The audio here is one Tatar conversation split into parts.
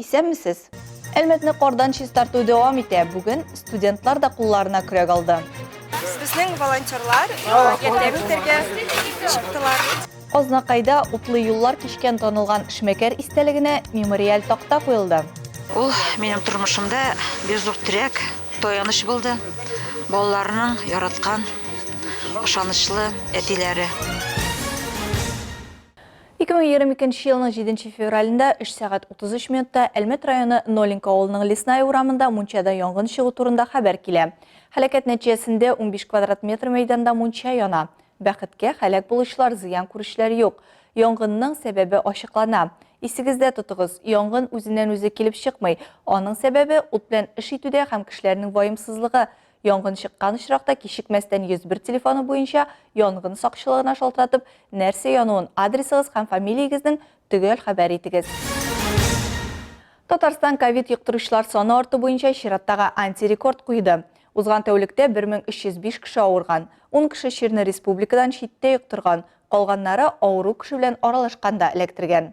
Исәнмесез! Әлмәтне кардан чистарту дәвам итә. Бүген студентлар да кулларына көрәк алды. Безнең волонтерлар ярдәм итәргә чыктылар. Азнакайда утлы юллар кичкән танылган эшмәкәр истәлегенә мемориаль такта куелды. Ул минем тормышымда бик зур терәк, таяныч булды. Балаларның яраткан, ышанычлы әтиләре. 2022 нче елның 7 нче февралендә 3 сәгать 33 минутта Әлмәт районы Нолинка авылының Лесная урамында мунчада янгын чыгу турында хәбәр килә. Хәләкәт нәтиҗәсендә 15 квадрат метр мәйданда мунча яна. Бәхеткә, хәләк булучылар, зыян күрүчеләр юк. Янгынның сәбәбе ачыклана. Исегездә тотыгыз, янгын үзеннән-үзе килеп чыкмый. Аның сәбәбе, ут белән эш итүдә һәм кешеләрнең ваемсызлыгы. Янгын чыккан очракта кичекмәстән 101 телефоны буенча янгын сакчылыгына шалтыратып, нәрсә януын, адресыгыз һәм фамилиягезнең төгәл хәбәр итегез. Татарстан ковид йоктыручылар саны арты буенча чираттагы антирекорд куйды. Узган тәүлектә 1305 кеше авырган, 10 кеше чирне республикадан читтә йоктырган, калганнары авыру кеше белән аралашканда эләктергән.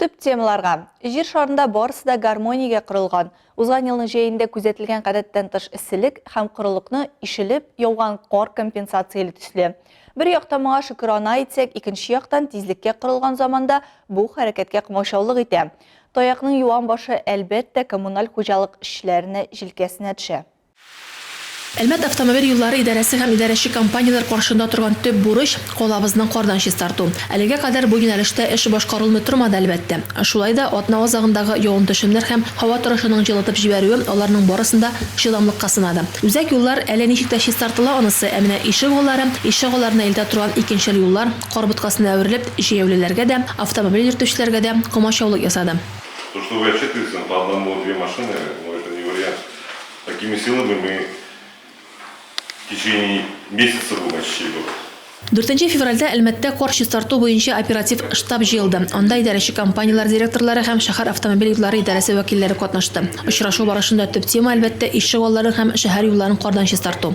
Төп темаларга. Җир шарында барысы да гармониягә корылган. Узган елның җәендә күзәтелгән гадәттән тыш эсселек һәм корылыкны ишелеп яуган кар компенсацияли төсле. Бер яктан моңа шөкерана итсәк, икенче яктан тизлеккә корылган заманда бу хәрәкәткә комачаулык итә. Таякның юан башы, әлбәттә, коммуналь хуҗалык эшчеләренә җилкәсенә төшә. Әлмәт автомобиль юллары идарәсе һәм идарәче компанияләр каршында торган төп бурыч, калабызны кардан чистарту. Әлегә кадәр бу юнәлештә эш башкарылмый тормады, әлбәттә. Шулай да, атна азагындагы явым-төшемнәр һәм һава торышының җылытып җибәрүе аларның барысын да чыдамлыкка сынады. Үзәк юллар әле ничек тә чистартыла анысы, ә менә ишегаллары, ишегалларына илтә торган икенчел юллар, кар боткасына әверелеп, җәяүлеләргә дә, автомобиль йөртүчеләргә дә комачаулык ясады. То, что вы отчитываетесь, но по одному-две машины, ну, это не вариант. Такими силами мы в течение месяца будем очистить город. Дүртенче февральдә Әлмәттә кар чистарту буенча оператив штаб җыелды. Анда идарәче компанияләр директорлары һәм шәһәр автомобиль юллары идарәсе вәкилләре катнашты. Очрашу барышында төп тема, әлбәттә, ишегалларын һәм шәһәр юлларын кардан чистарту.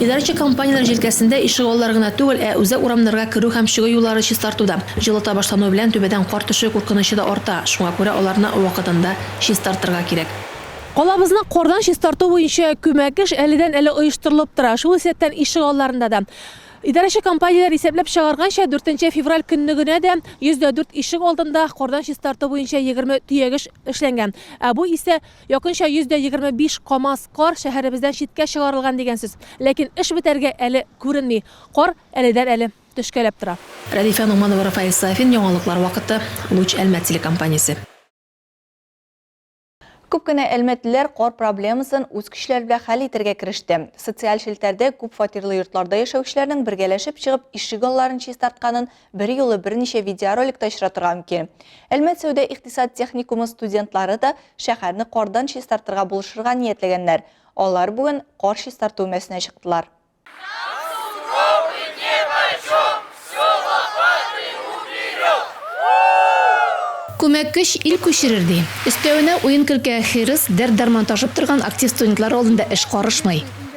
Идарәче компанияләр җилкәсендә ишегаллар гына түгел, ә үзәк урамнарга керү һәм чыгу юллары чистарту да. Җылыта башлануы белән түбәдән кар төшү куркынычы да арта, шуңа күрә аларны вакытында чистартырга кирәк. Калабызны кардан чистарту буенча күмәк эш әледән-әле оештырылып тора. Шул исәптән ишегалларында да. Идарәче компанияләр исәпләп чыгарганча, дүртенче февраль көннегенә дә 104 ишек алдында кардан чистарту буенча егерме төягеш эшләнгән, ә бу исә, Якынча 125 камаз кар шәһәребездән читкә чыгарылган дигән сүз. Ләкин эш бетәргә әле күренми. Кар әледән-әле төшкәләп тора. Рәдифә Ногманова, Рафаэль Сафин, Яңалыклар вакыты, Луч Әлмәт телекомпаниясе. Күп кенә әлмәтлеләр кар проблемасын үз көчләре белән хәл итәргә кереште. Социаль челтәрдә күп фатирлы йортларда яшәүчеләрнең бергәләшеп чыгып ишегалларын чистартканын Бер юлы берничә видеороликта очратырга мөмкин. Әлмәт сәүдә-икътисад техникумы студентлары да шәһәрне кардан чистартырга булышырга ниятләгәннәр. Алар бүген кар чистарту өмәсенә чыктылар. Күмәк көч ил күчерер, ди. Өстәвенә, уен-көлкегә хирыс, дәрт-дарман ташып торган актив студентлар алдында эш карышмый.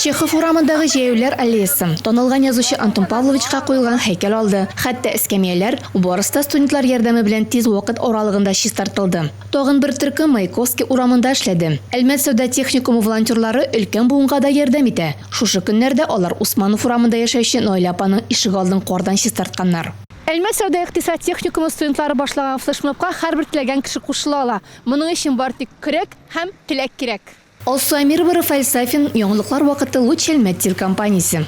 Чехов урамындагы Җәяүләр аллеясы, танылган язучы Антон Павловичка куелган һәйкәл алды, хәтта эскәмияләр, барысы да студентлар ярдәме белән тиз вакыт аралыгында чистартылды. Тагын бер төркем Маяковский урамында эшләде. Әлмәт сәүдә техникумы волонтерлары өлкән буынга да ярдәм итә. Шушы көннәрдә алар Усманов урамында яшәүче Наилә апаның ишегалдын кардан чистартканнар. Әлмәт сәүдә-икътисад техникумы студентлары башлаган флешмобка һәрбер теләгән кеше кушыла ала. Моның өчен бары тик көрәк һәм теләк кирәк. Алсу Әмирова, Рафаэль Сафин, Яңалыклар вакыты, Луч Әлмәт телекомпаниясе.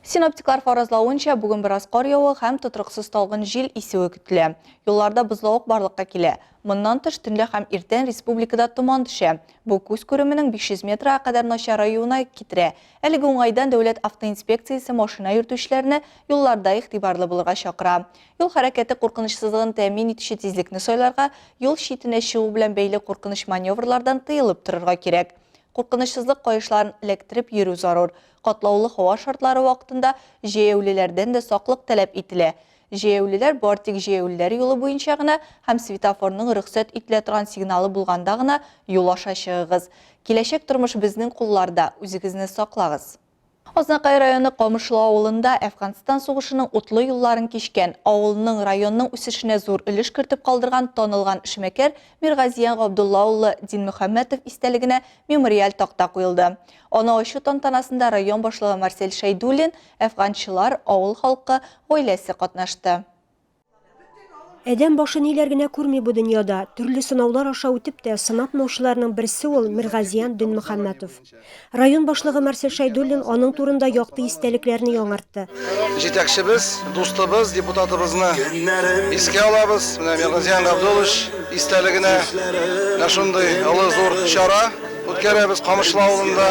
Синоптиклар фаразлавынча, бүген бераз кар явуы һәм тотрыксыз талгын җил исүе көтелә. Юлларда бозлавык барлыкка килә. Моннан тыш, төнлә һәм иртән республикада томан төшә. Бу күз күременең 500 метрга кадәр начараюына китерә. Әлеге уңайдан Дәүләт автоинспекциясе машина йөртүчеләрне юлларда игътибарлы булырга чакыра. Юл хәрәкәте куркынычсызлыгын тәэмин итүче тизлекне сайларга, юл читенә чыгу белән бәйле куркыныч маневрлардан тыелып торырга кирәк. Куркынычсызлык каешларын эләктереп йөрү зарур. Катлаулы һава шартлары вакытында җәяүлеләрдән дә саклык таләп ителә. Җәяүлеләр бар тик җәяүлеләр юлы буенча гына һәм светофорның рөхсәт ителә торган сигналы булганда гына юл аша чыгыгыз. Киләчәк тормыш безнең кулларда, үзегезне саклагыз! Азнакай районы Камышлы авылында Әфганстан сугышының утлы юлларын кичкән, авылның, районның үсешенә зур өлеш кертеп калдырган танылган эшмәкәр Миргазиян Габдулла улы Динмөхәммәтов истәлегенә мемориаль такта куелды. Аны ачу тантанасында район башлыгы Марсель Шәйдуллин, әфганчылар, авыл халкы, гаиләсе катнашты. Әдәм башы ниләр генә күрми бу дөньяда. Төрле сынаулар аша үтеп тә сынатмаучыларның берсе ул Миргазиян Дөнмөхәммәтов. Район башлыгы Марсель Шәйдуллин аның турында якты истәлекләрне яңартты. Җитәкчебез, дустыбыз, депутатыбызны искә алабыз. Менә Миргазиян Габдуллович истәлегенә менә шундый олы зур чара үткәрәбез Камышлы авылында.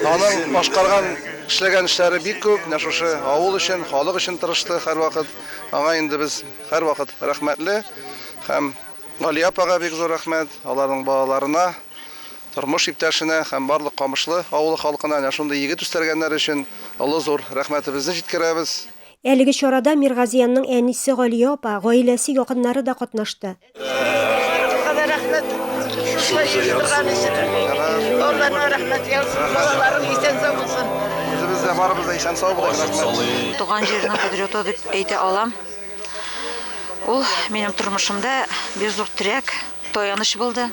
Аның башкарган, эшләгән эшләре бик күп. Менә шушы авыл өчен, халык өчен тырышты һәрвакыт. Аңа инде без һәрвакыт рәхмәтле һәм Гали апага бик зур рәхмәт, аларның балаларына, тормыш иптәшенә һәм барлык Камышлы авылы халкына әнә шундый егет үстәргәннәр өчен олы зур рәхмәтебезне җиткерәбез. Әлеге чарада Миргазиянның әнисе Галия апа, гаиләсе, якыннары да катнашты. Туган җирнең кодряты дип әйтә алам. Ул минем тормышымда бер зур терәк, таяныч булды.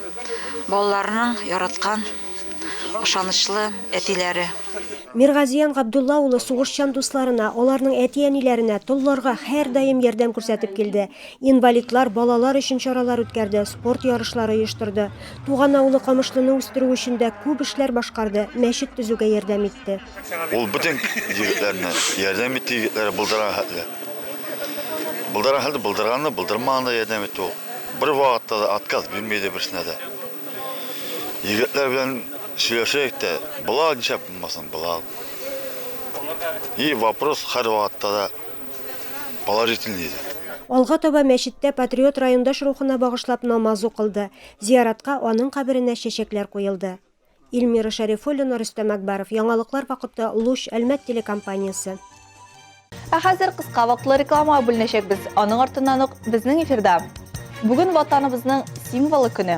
Балаларның яраткан, ышанычлы әтиләре. Миргазиян Габдулла улы сугышчан дусларына, аларның әти-әниләренә, толларга һәрдаим ярдәм күрсәтеп килде. Инвалидлар, балалар өчен чаралар үткәрде, спорт ярышлары оештырды. Туган авылы Камышлыны үстерү өчен дә күп эшләр башкарды, мәчет төзүгә ярдәм итте. Ул бөтен егетләрне, ярдәм итте егетләре булдырган хәтле. Булдырган хәтле булдырган да, булдырмаган да ярдәм итте ул. Бервакытта да отказ бирми иде берсенә дә. Егетләр белән сөйләшәйек тә, болар нишләп булмасын, болар. И вопрос һәрвакытта да. положительный иде. Алга таба мәчеттә патриот-райондаш рухына багышлап намаз укылды, зияратка аның каберенә чәчәкләр куелды. Ильмира Шәрифуллина, Рөстәм Әкбаров, Яңалыклар вакыты, Луч, Әлмәт телекомпаниясе. Ә хәзер кыска вакытлы рекламага бүленәчәкбез, аның артыннан ук безнең эфирда Бүген Ватаныбызның символы көне.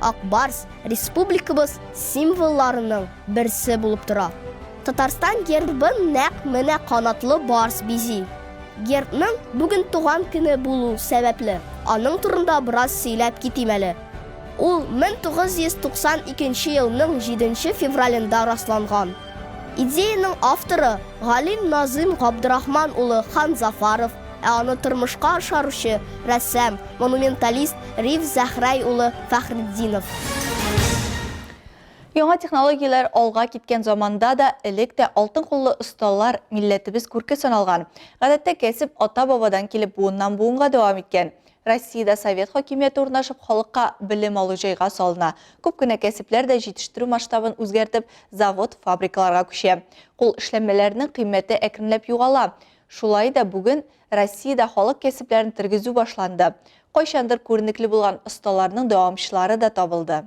Ак барс республикабыз символларының берсе булып тора. Татарстан гербын нәкъ менә канатлы барс бизи. Гербның бүген туган көне булу сәбәпле, аның турында бераз сөйләп китим әле. Ул 1992 елның 7 февралендә расланган. Идеяның авторы Галим Назым Габдрахман улы Ханзафаров, Ә аны тормышка ашаручы, рәссам, монументалист Риф Зәхрай улы Фәхретдинов. Яңа технологияләр алга киткән заманда да элек тә алтын куллы осталар милләтебез күрке саналган. Гадәттә кәсеп ата-бабадан килеп буыннан-буынга дәвам иткән. Россиядә совет хакимияте урнашып, халыкка белем алу җайга салына. Күп кенә кәсепләр дә җитештерү масштабын үзгәртеп, завод, фабрикаларга күчә. Кул эшләнмәләренең кыйммәте әкренләп югала. Шулай да бүген Россиядә халык кәсепләрен тергезү башланды, кайчандыр күренекле булган осталарның дәвамчылары да табылды.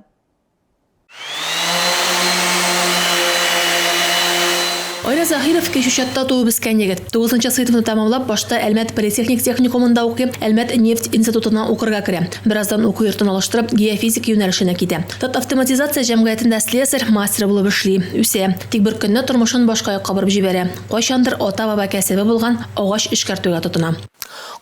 Айрат Заһиров, Кечүчатта туып-үскән егет. Тугызынчы сыйныфны тәмамлап, башта Әлмәт политехник техникумында укый, Әлмәт нефть институтына укырга керә. Бераздан уку йортын алыштырып, геофизик юнәлешенә китә. Татавтоматизация җәмгыятендә слесарь, мастер булып эшли, үсә. Тик беркөнне тормышын башка якка борып җибәрә. Кайчандыр ата-баба кәсебе булган агач эшкәртүгә тотына.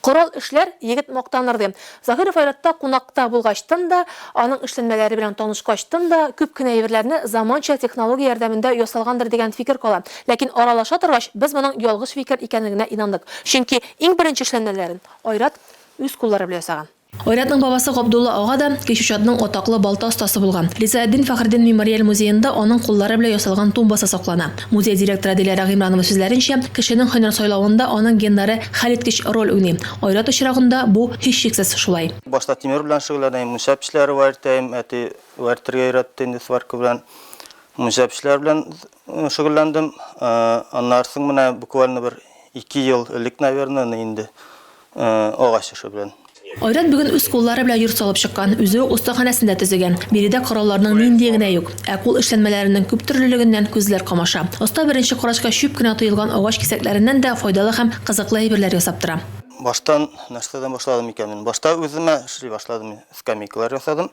Корал эшләр, егет мактаныр, дим. Заһиров Айратта кунакта булгачтын да, аның эшләнмәләре белән танышкачтын да, күп кенә әйберләрне заманча технология ярдәмендә ясалгандыр дигән фикер кала. Ләкин аралаша торгач, без моның ялгыш фикер икәнлегенә инандык. Чөнки иң беренче эшләнмәләрен Айрат үз куллары белән ясаган. Айратның бабасы Габдулла ага да Кечүчадның атаклы балта остасы булган. Ризаэтдин Фәхреддин мемориаль музеенда аның куллары белән ясалган тумбасы саклана. Музей директоры Диләрә Гыймранова сүзләренчә, кешенең һөнәр сайлавында аның геннары хәлиткеч роль уйный. Айрат очрагында бу, һичшиксез, шулай. Башта тимер белән шөгыльләнә, мунча печләре вә эртә, әти вә эртергә өйрәтте инде сварка белән. Мунча печләре белән Шөгыльләндем. Аннары соң менә буквально бер ике ел элек, наверное, инде агач эше белән. Айрат бүген үз куллары белән йорт салып чыккан, үзе үк остаханәсен дә төзегән. Биредә коралларның ниндие генә юк. Ә кул эшләнмәләренең күптөрлелегеннән күзләр камаша. Оста беренче карачка чүп кенә тоелган агач кисәкләреннән дә файдалы һәм кызыклы әйберләр ясап тора. Баштан нәрсәдән башладым икән мин? Башта үземә эшли башладым мин. Скамейкалар ясадым.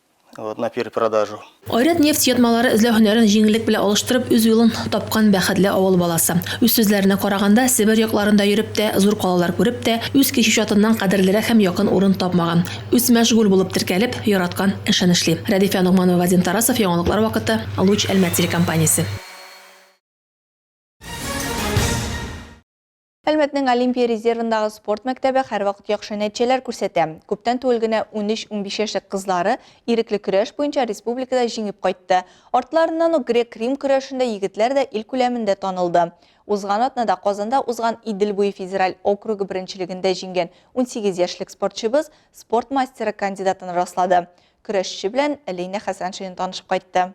Вот на перепродажу. Айрат нефть ятмалары эзләү һөнәрен җиңеллек белән алыштырып, үз юлын тапкан бәхетле авыл баласы. Үз сүзләренә караганда, Себер якларында йөреп тә, зур калалар күреп тә, үз кече чатыннан кадерлерәк һәм якын урын тапмаган. Үсмәшгуль булып теркәлеп, яраткан эшен эшли. Рәдифә Ногманова, Вадим Тарасов, Яңалыклар вакыты, Луч Әлмәт телекомпаниясе. Әлмәтнең Олимпия резервындагы спорт мәктәбе һәрвакыт яхшы нәтиҗәләр күрсәтә. Күптән түгел генә 13-15 яшьлек кызлары ирекле көрәш буенча республикада җиңеп кайтты. Артларыннан ук грек-рим көрәшендә егетләр дә ил күләмендә танылды. Узган атнада Казанда узган Идел буе федераль округы беренчелегендә җиңгән 18 яшьлек спортчыбыз спорт мастеры кандидатын раслады. Көрәшче белән Лина Хәсәншина танышып кайтты.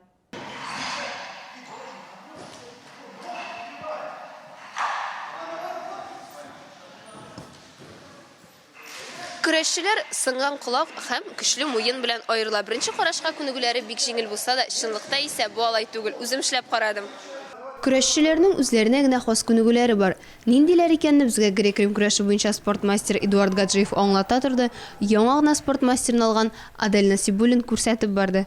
Көрәшчеләр сынган колак һәм көчле муен белән аерыла. Беренче карашка күнегүләре бик җиңел булса да, чынлыкта исә бу алай түгел. Үзем эшләп карадым. Көрәшчеләрнең үзләренә генә хас күнегүләре бар. Ниндиләр икәнне безгә грек-рим көрәше буенча спорт мастеры Эдуард Гаджиев аңлата торды, яңа гына спорт мастерын алган Адель Насибуллин күрсәтеп барды.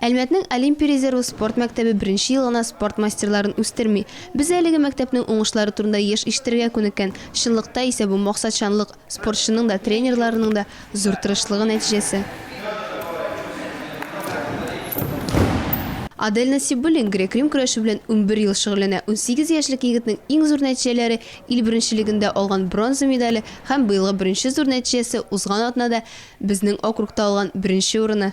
Әлмәтнең Олимпия резервы спорт мәктәбе беренче ел гына спорт мастерларын үстерми. Без әлеге мәктәпнең уңышлары турында еш ишетергә күнеккән, чынлыкта исә бу максатчанлык, спортчының да, тренерларының да зур тырышлыгы нәтиҗәсе. Адель Насибуллин грек-рим көрәше белән унбер ел шөгыльләнә. Унсигез яшьлек егетнең иң зур нәтиҗәләре, ил беренчелегендә алган бронза медале һәм быелгы беренче зур нәтиҗәсе, узган атнада безнең округта алган беренче урыны.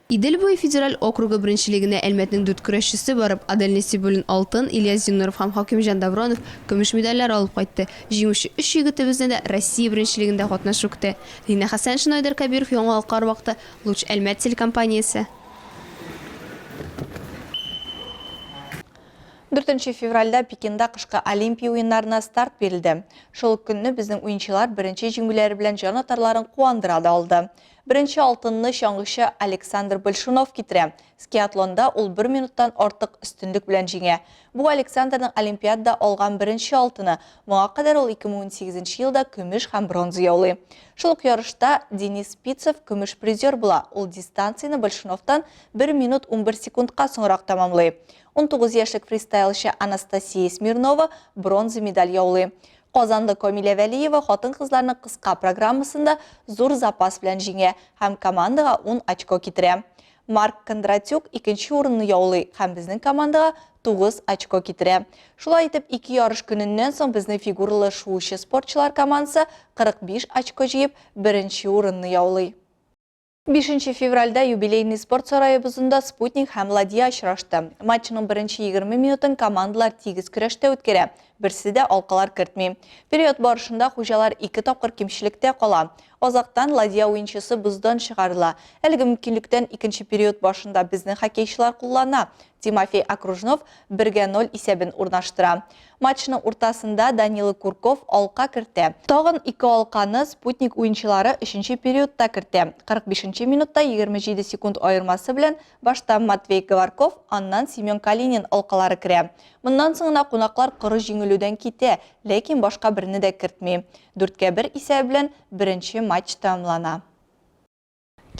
Идел буе федераль округы беренчелегенә Әлмәтнең дүрт көрәшчесе барып, Адель Нәсибуллин, алтын, Ильяс Зиннуров һәм Хакимҗан Давронов, көмеш медальләр алып кайтты. Җиңүче өч егетебезне дә Россия беренчелегендә катнашу көтә. Лина Хәсәншина, Айдар Кәбиров, Яңалыклар вакыты, Луч Әлмәт телекомпаниясе. Дүртенче февральдә Пекинда кышкы Олимпия уеннарына старт бирелде. Шул ук көнне безнең уенчылар беренче җиңүләре белән җан атарларын куандыра да алды. Беренче алтынны чаңгычы Александр Большунов китерә. Скиатлонда ул бер минуттан артык өстенлек белән җиңә. Бу Александрның Олимпиадада алган беренче алтыны. Моңа кадәр ул 2018 нче елда көмеш һәм бронза яулый. Шул ук ярышта Денис Спицев көмеш призер була, ул дистанцияне Большуновтан бер минут унбер секундка соңрак тәмамлый. Унтугыз яшьлек фристайлчы Анастасия Смирнова бронза медаль яулый. Казанлы Камилә Вәлиева хатын-кызларның кыска программасында зур запас белән җиңә һәм командага ун очко китерә. Марк Кондратюк икенче урынны яулый һәм безнең командага тугыз очко китерә. Шулай итеп, ике ярыш көненнән соң безнең фигуралы шуучы спортчылар командасы 45 очко җыеп, беренче урынны яулый. Бишенче февральдә юбилейный спорт сараебызында Спутник һәм Ладья очрашты. Матчның беренче егерме минутын командалар тигез көрәштә үткәрә, берсе дә алкалар кертми. Период барышында хуҗалар ике тапкыр кимчелектә кала. Азактан Ладья уенчысы боздан чыгарыла. Әлеге мөмкинлектән икенче период башында безнең хоккейчылар куллана. Тимофей Окружнов 1-гә 0 исәбен урнаштыра. Матчның уртасында Данила Курков алка кертә. Тагын ике алканы Спутник уенчылары өченче периодта кертә. 45 нче минутта 27 секунд аермасы белән башта Матвей Говорков, аннан Семен Калинин алкалары керә. Моннан соң гына кунаклар коры җиңелүдән китә, ләкин башка берне дә кертми. 4-гә 1 исәбе белән беренче матч тәмамлана.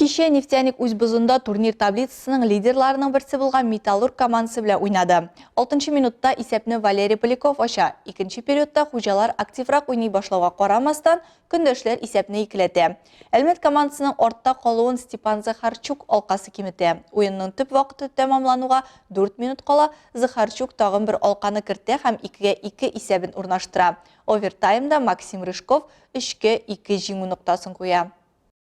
Кичә Нефтяник үз бозында турнир таблицасының лидерларының берсе булган Металлург командасы белән уйнады. Алтынчы минутта исәпне Валерий Поляков ача. Икенче периодта хуҗалар активрак уйный башлауга карамастан, көндәшләр исәпне икеләтә. Әлмәт командасының артта калуын Степан Захарчук алкасы киметә. Уенның төп вакыты тәмамлануга дүрт минут кала Захарчук тагын бер алканы кертә һәм икегә ике исәбен урнаштыра. Овертаймда Максим Рыжков өчкә ике җиңү ноктасын куя.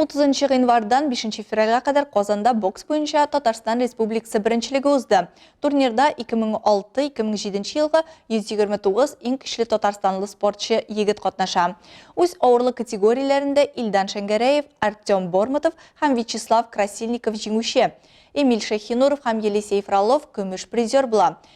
Утызынчы гыйнвардан бишенче февральгә кадәр Казанда бокс буенча Татарстан Республикасы беренчелеге узды. Турнирда 2006-2007 елгы 129 иң көчле татарстанлы спортчы егет катнаша. Үз авырлык категорияләрендә Илдан Шәңгәрәев, Артем Бормотов һәм Вячеслав Красильников җиңүче. Эмиль Шәйхинуров һәм Елисей Фролов көмеш призер була.